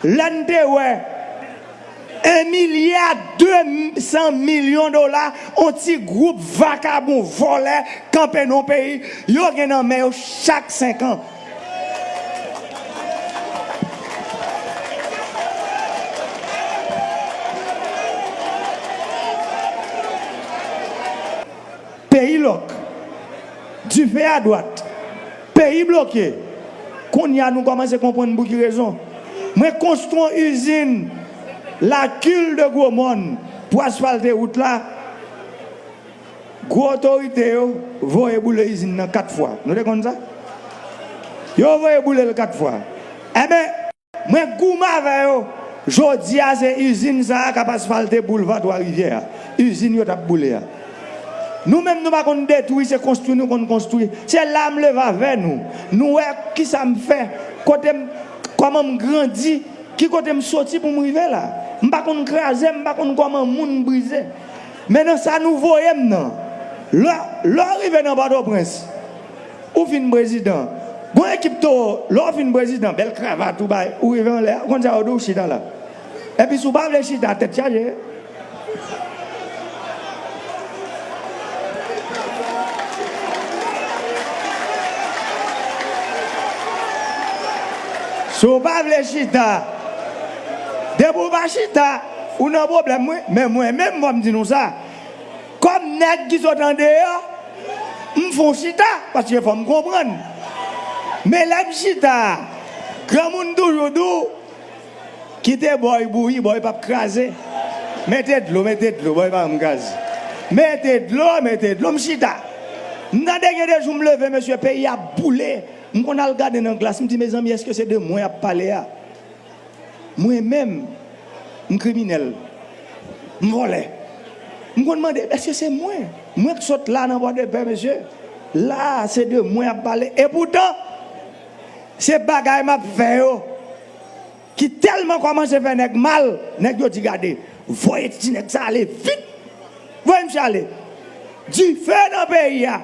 Lè n te wè 1 milya 200 milyon dola on ti gwoup vakabon vòlè kanpe nan on peyi yo gen nan men yo chak 5 an. Peyi lòk. Dife a dwat. Peyi bloke. Kounye a nou kòmanse konprann pou ki rezon mwen konstwi yon izin la kil de gwo mòn pou asfalte wout la. Gwo otorite yo voye boule izin nan 4 fwa. Nou te konn sa? Yo voye boule l 4 fwa. Enben. Mwen goumen avè yo. Jodi a se izin sa a k ap asfalte boulva Twa Rivyè a, izin yo t ap boule a. Nou menm nou pa konn detwi, se konstwi nou konn konstwi. Se la m leve avè nou. Nou wè ki sa m fè, kote m, kòman m grandi, ki kote m soti pou m rive la. M pa konn kraze, m pa konn kòman moun brize. Men nan sa nou voye m nan, lè lè w rive nan Pòtoprens, Ou fin prezidan Gon ekip towo lè w fin prezidan bèl kravat ou bay ou rive anlè a ou konn sa yo di w chita la epi si w pa vle chita tèt chaje. Si w pa vle chita depi w pa chita ou nan pwoblèm wi men mwen menm fò m di nou sa. Kòm nèg ki sot andeyò, m fon chita paske fò m konprann. Men lè m chita, granmoun toujou di w, Kite bòy bouyi, bòy p ap kraze. Mete dlo, mete dlo, bòy pa janm kraze. Mete dlo, mete dlo, m chita. M tande gen de jou m leve mesye, peyi a boule, m konn al gade nan glas m di mezanmi èske se de mwen y ap pale a? Mwen menm, m kriminèl, m vòlè. M konn mande, èske se mwen? Mwen k sot la nan Pòdepè, mesye. La a, se de mwen y ap pale. Epoutan, se bagay m ap fè yo ki tèlman kòmanse fè nèg mal, nèg yo di gade, voye ti nèg sa a ale vit! Voye misye ale! Dife nan peyi a!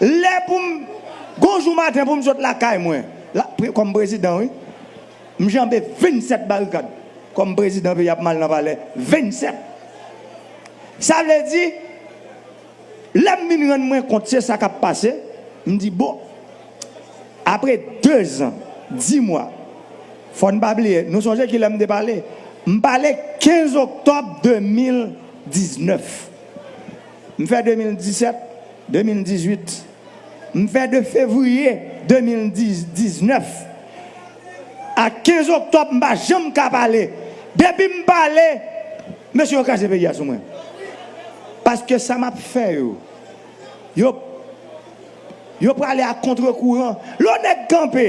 Lè pou m, gon jou maten pou m sot lakay mwen. La kòm prezidan wi. M janbe 27 barikad kòm prezidan peyi a ap mal nan palè 27. Sa vle di lè m vin rann mwen kont se sa k ap pase m di bon apre 2 zan 10 mwa fò n pa bliye nou sonje kilè m te pale m pale 15 oktòb 2019 m fè 2017, 2018. M fè 2 fevriye 2019 ak 15 oktòb m pa janm ka pale depi m pale mesye yo kraze peyi a sou mwen paske sa map fè yo yo yo prale a kontre kouran lò nèg kanpe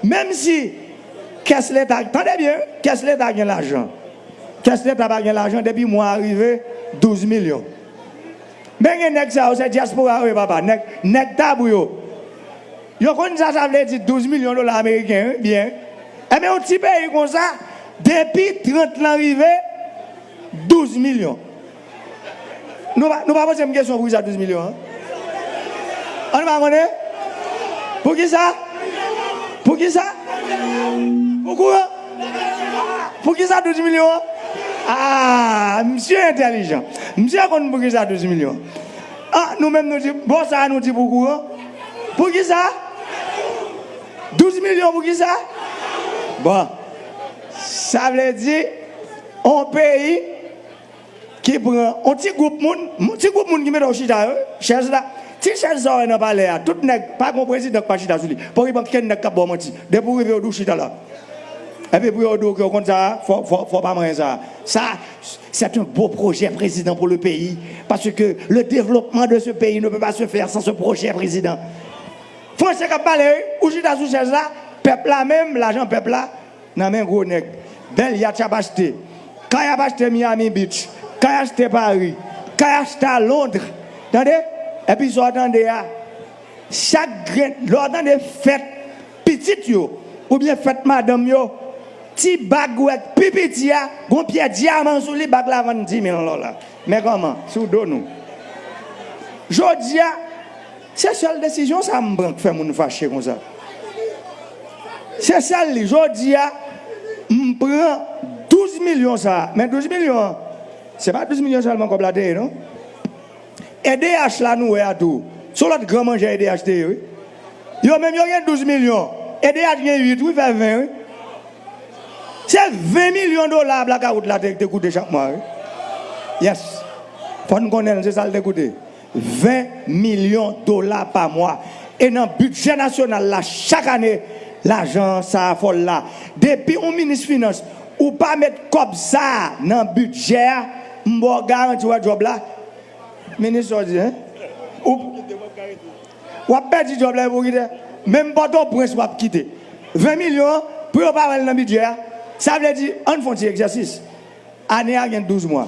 menm si kès leta tande byen wi kès leta gen lajan kès leta pa gen lajan depi mwa a rive 12 milyon. Men gen nèg sa yo se diaspora yo ye papa nèg nèg tabou yo yo konn sa sa vle di 12 milyon dola ameriken wi byen enben yon ti peyi konsa depi 30 lan rive 12 milyon nou pa nou pa poze m kesyon poukisa 12 milyon an an nou pa konnen poukisa poukisa pou kouran. Poukisa 12 milyon an? Aah misye entèlijan. Misye konn poukisa 12 milyon an. Ah nou menm nou di bon sa a nou di pou kouran? Poukisa? 12 milyon poukisa? Bon. Sa vle di on peyi. Ki pran on ti gwoup moun, on ti gwoup moun ki mete w chita yo wi, chèz la, ti chèz sa w wè nan palè a, tout nèg, pa gen yon prezidan ki pa chita sou li, poko gen okenn nèg k ap ba w manti, depi ou rive yo di w chita la, epi pou yo di w ke ou konn sa a, fò, fò, fò w pa manyen sa a. Sa, c'est un beau projet président pour le pays, parce que le développement de ce pays ne peut pas se faire sans ce projet président. Français k ap pale wi, ou chita sou chèz la, pèp la menm, lajan pèp la, Nan men gwo nèg. Bèl yatch ap achte. Kay ap achte Miami Beach. Kay achte Paris. Kay achte a Londres. Tande! Epi sa w tande a, chak grenn, lè w tande fèt pitit yo oubyen fèt madanm yo, ti bag ou wè k pi piti a, gon pyè dyaman sou li, bag la vann 10 mil dola. Men kòman, sou do nou. Jodi a. Se sèl desizyon sa m pran k fè moun fache konsa. Se sèl li. Jodi a, m pran 12 milyon sa a. Men 12 milyon an, se pa 12 milyon sèlman kòb la te ye non. Edh la nou wè a tou, se yon lòt gran manjè edh te ye wi. Yo menm yo gen 12 milyon, edh gen 8 wi, fè 20 wi. Se 20 milyon dola blakawout la te koute chak mwa wi. Yes. Fò n konnen l, se sa l te koute. 20 milyon dola pa mwa. E nan bidjè nasyonal la chak ane lajan sa a fòl la. Depi ou minis finans ou pa met kòb sa a nan bidjè a m ba w garanti w a djòb la minis sa w di hein ou w ap pèdi djòb la epi w kite menm pòtoprens w ap kite 20 milyon an pou yo pa wè l nan bidjè a sa vle di ann fon ti egzèsis ane a gen 12 mwa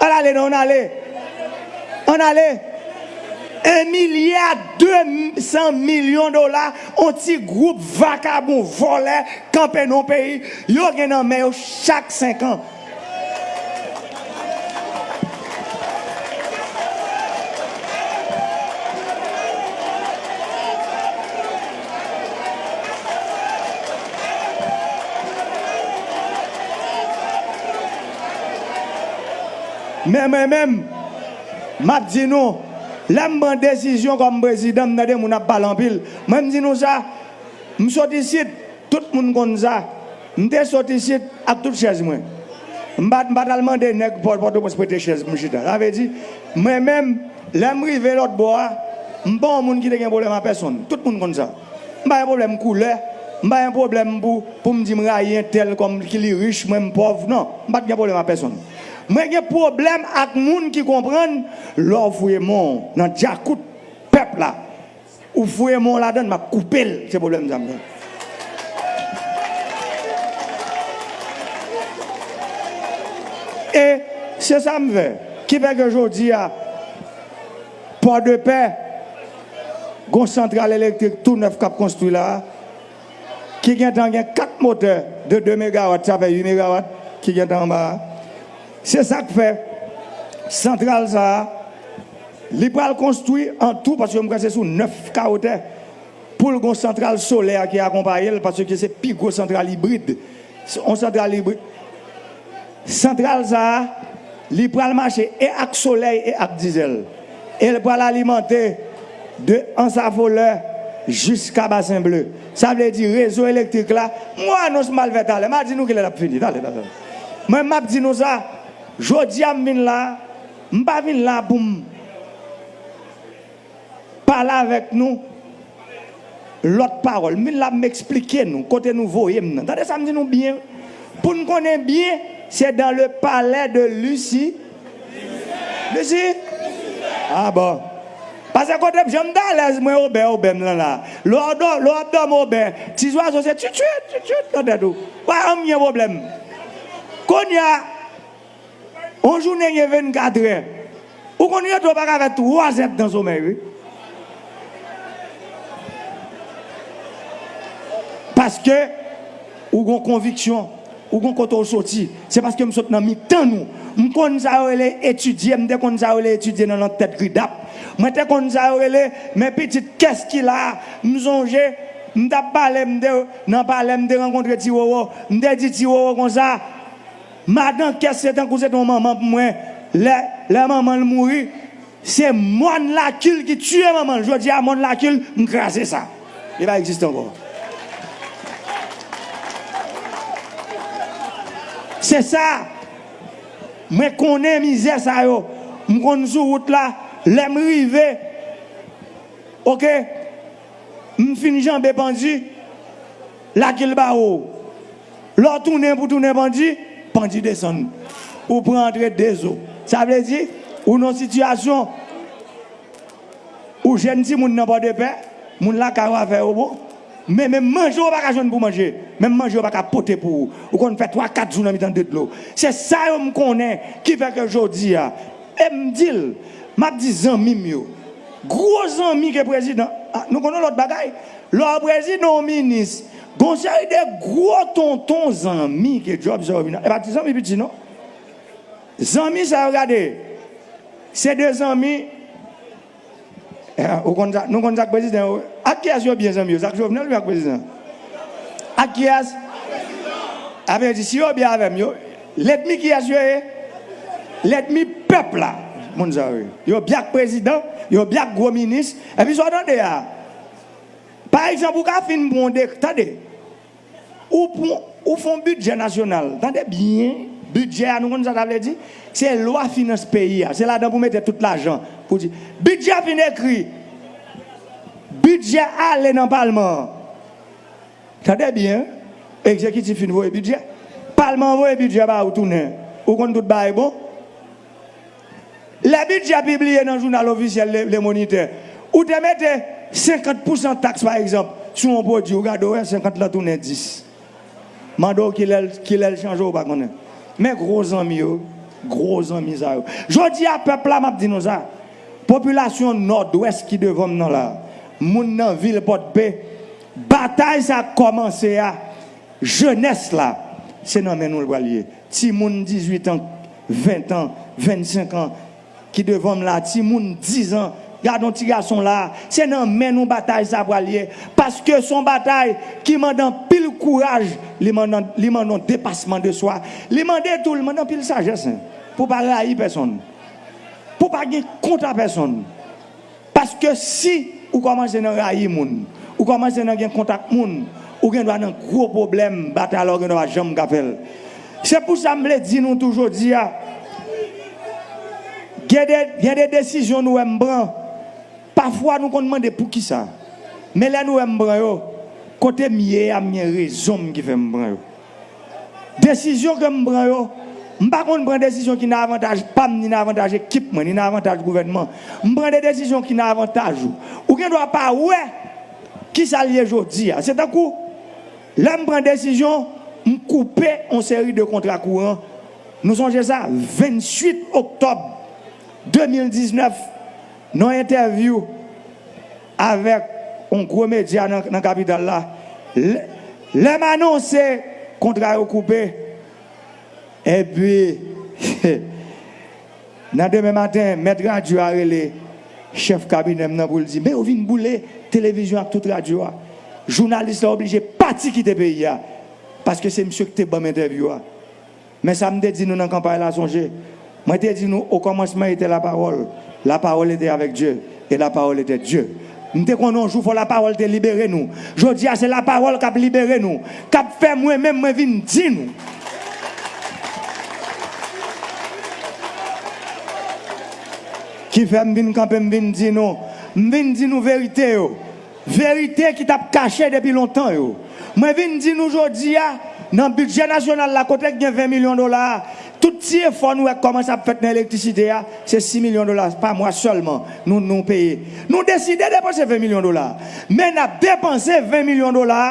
Al ale non, an ale. An ale. 1 milya 200 milyon dola on ti gwoup vakabon, vòlè, kanpe non peyi yo gen nan men yo chak 5 an. Men mwen menm, m ap di nou, lè m pran desizyon kòm prezidan, m tande moun ap pale anpil, mwen m di nou sa, m sot isit, tout moun konn sa. M te sot isit ak tout chèz mwen. M pa m pa t al mande nèg pò Pòtoprens prete chèz pou m chita. Sa vle di, mwen menm, lè m rive lòt bò a, m pa yon moun ki te gen pwoblèm ak pèsonn. Tout moun konn sa. M pa gen pwoblèm koulè, m pa gen pwoblèm pou pou m di m rayi entèl kòm ki li rich, mwen m pòv. Non, m pa t gen pwoblèm ak pèsonn. Mwen gen pwoblèm ak moun ki konprann lè w fouye men w nan djakout pèp la. Ou fouye men w ladann map koupe l se problème sa m gen. E se sa m fè. Ki fè ke jodi a Pòdepè gon santral elektrik tou nèf kap konstwi la a. ki gentan gen 4 motè de 2 megawat sa fè 8 megawat ki gentan anba a. Se sa k fè santral sa a li pral konstwi an tou paske mwen kwè se sou 9 kawo tè pou l gon santral solè ki akonpaye l paske se pi gwo santral ibrid on santral ibrid. Santral sa a, li pral mache e ak solèy e ak dizèl, e l pral alimante de Ansafolè jiska Basen Ble. Sa vle di rezo elektrik la, m wè anons m al fè talè, m a di nou kilè l ap fini talè. Men m ap di nou sa, jodi a m vin la, m pa vin la pou m. Pale avèk nou lòt pawòl. M vin la pou m esplike nou kote nou voye m nan. Tande sa m di nou byen, pou n konnen byen, se dans le palais de Luci, Luci? A bon. Pase kote m, jan m t alèz mwen obè obè m lan la. Lè w dò, lè w ap dòmi obè, ti zwazo se tchwit tchwit, tchwit tchwit nan tèt ou. Wè, an m gen pwoblèm. Kounye a. Yon jounen gen 24 è. Ou konn rete ou pa ka fè 3 zèp dan somèy wi. Paske ou gon konviksyon, ou gon kote ou soti. Se paske m sot nan mitan nou. M konn sa yo rele etidye, m te konn sa yo rele etidye nan lang tèt gridap. Mwen te konn sa yo rele men pitit kès ki la a. M sonje m t ap pale m te nan palè m te rankontre Ti Roro. M te di Ti Roro konsa. Madan kès se tankou se te yon manman pou mwen lè lè manman l mouri se mòn laky l ki tiye manman l jodi a mòn laky l m kraze sa li pa egziste ankò se sa mwen konnen mizè sa yo m konn sou wout la lè m rive ok m fin janbe pandi laky l ba wou. Lè w tounen pou tounen bandi, bandi desann ou pran antre de zo. Sa vle di, ou nan yon sitiyasyon, ou jèn timoun nan Pòdepè, moun lakay ou avè yo bon, men menm manje ou pa ka jwenn pou w manje, menm manje yo pa ka pote pou ou. Ou konn fè twa kat jou nan mitan de dlo. Se sa yo m konnen ki fè ke jodi a, e m di l, m ap di zanmi m yo, gwo zanmi ke prezidan, a nou konnen yon lòt bagay, lè w prezidan ou minis, Gon seri de gwo tonton zanmi ke djòb sa yo vin e pa ti zanmi piti non. Zanmi sa yo gade se de zanmi ou konn sa nou konn sa k prezidan yo ak kiyès yo byen zanmi yo se ak Jovenel oubyen ak prezidan an? Ak kiyès? Sa vle di si yo byen avè m yo lèdmi kiyès yo ye? Lèdmi pèp la moun sa yo ye. Yo byen ak prezidan, yo byen ak gwo minis epi sa w tande a. Pa egzanp, ou ka fin pran yon dek, tande, ou pran, ou fè yon bidjè nasyonal, tande byen, bidjè a nou konn sa sa vle di? Se lwa finans peyi a, se ladan pou mete tout lajan, pou di, bidjè a fin ekri, bidjè a ale nan palman an, tande byen, egzekitif fin voye bidjè, palman an voye bidjè ba ou tounen, ou konn tout bagay bon. Lè bidjè pibliye nan jounal ofisyèl Le Moniteur, ou te mete 50 pousan taks pa egzanp sou yon pwodui, ou gade ou wè 50 lan tounen 10. Mande w ki lè l chanje ou pa konnen. Men gwo zanmi yo, gwo zanmi sa yo. Jodi a pèp la m ap di nou sa, popilasyon Nòdwès ki devan m nan la, moun nan vil Pòdpe, batay sa k kòmanse a, jenès la, se nan men nou l pral ye. Timoun 18 an 20 tan, 25 an ki devan m la, ti moun 10 an, gad yon ti gason la, se nan men nou batay sa pral ye, paske son batay ki mande anpil kouraj, li mande, li mande yon depasman de swa, li mande tou, li mande anpil sajès, pou pa rayi pèsonn, pou pa gen kont a pèsonn. Paske si ou kòmanse nan rayi moun, ou kòmanse nan gen kont ak moun, ou gen dwa nan gwo pwoblèm, batay la ou gen dwa pa janm ka fè l. Se pou sa m vle di nou tou jodi a, gen de gen de desizyon nou wè m pran, pafwa nou konn mande poukisa? Men lè nou wè m pran yo, kote m ye a m gen rezon m ki fè m pran yo. Desizyon ke m pran yo, m pa konn pran desizyon ki nan avantaj pa m ni nan avantaj ekip mwen, ni nan avantaj gouvènman. M pran de desizyon ki nan avantaj ou. Ou gen dwa pa wè ki sa l ye jodi a. Se tankou lè m pran desizyon m koupe yon seri de kontra kouran. Nou sonje sa 28 oktòb 2019 nan yon entèvyou. Avèk yon gwo medya nan kapital la, lè m anonse kontra yo koupe, epi nan demen maten mèt radyo a rele chèf kabinè m nan pou l di, men yo vin boule televizyon ak tout radyo a, jounalis la oblije pati kite peyi a, paske se misye ki te ban m entèvyou a. Men sa m te di nou nan kanpay la, sonje, Mwen te di nou, Okòmansman etè Lapawòl, Lapawòl etè avèk Dye, e Lapawòl etè Dye. M te konnen yon jou fò Lapawòl te libere nou. Jodi a, se Lapawòl k ap libere nou, k ap fè mwen menm mwen vin di nou. Ki fè m vin kanpe m vin di nou, m vin di nou verite yo. Verite ki t ap kache depi lontan yo. Mwen vin di nou jodi a, nan bidjè nasyonal la kote k gen 20 milyon dola a, tout ti efò nou wè k kòmanse ap fèt nan elektrisite a, se 6 milyon dola pa mwa sèlman nou nou peye. Nou deside depanse 20 milyon dola a, men n ap depanse 20 milyon dola a,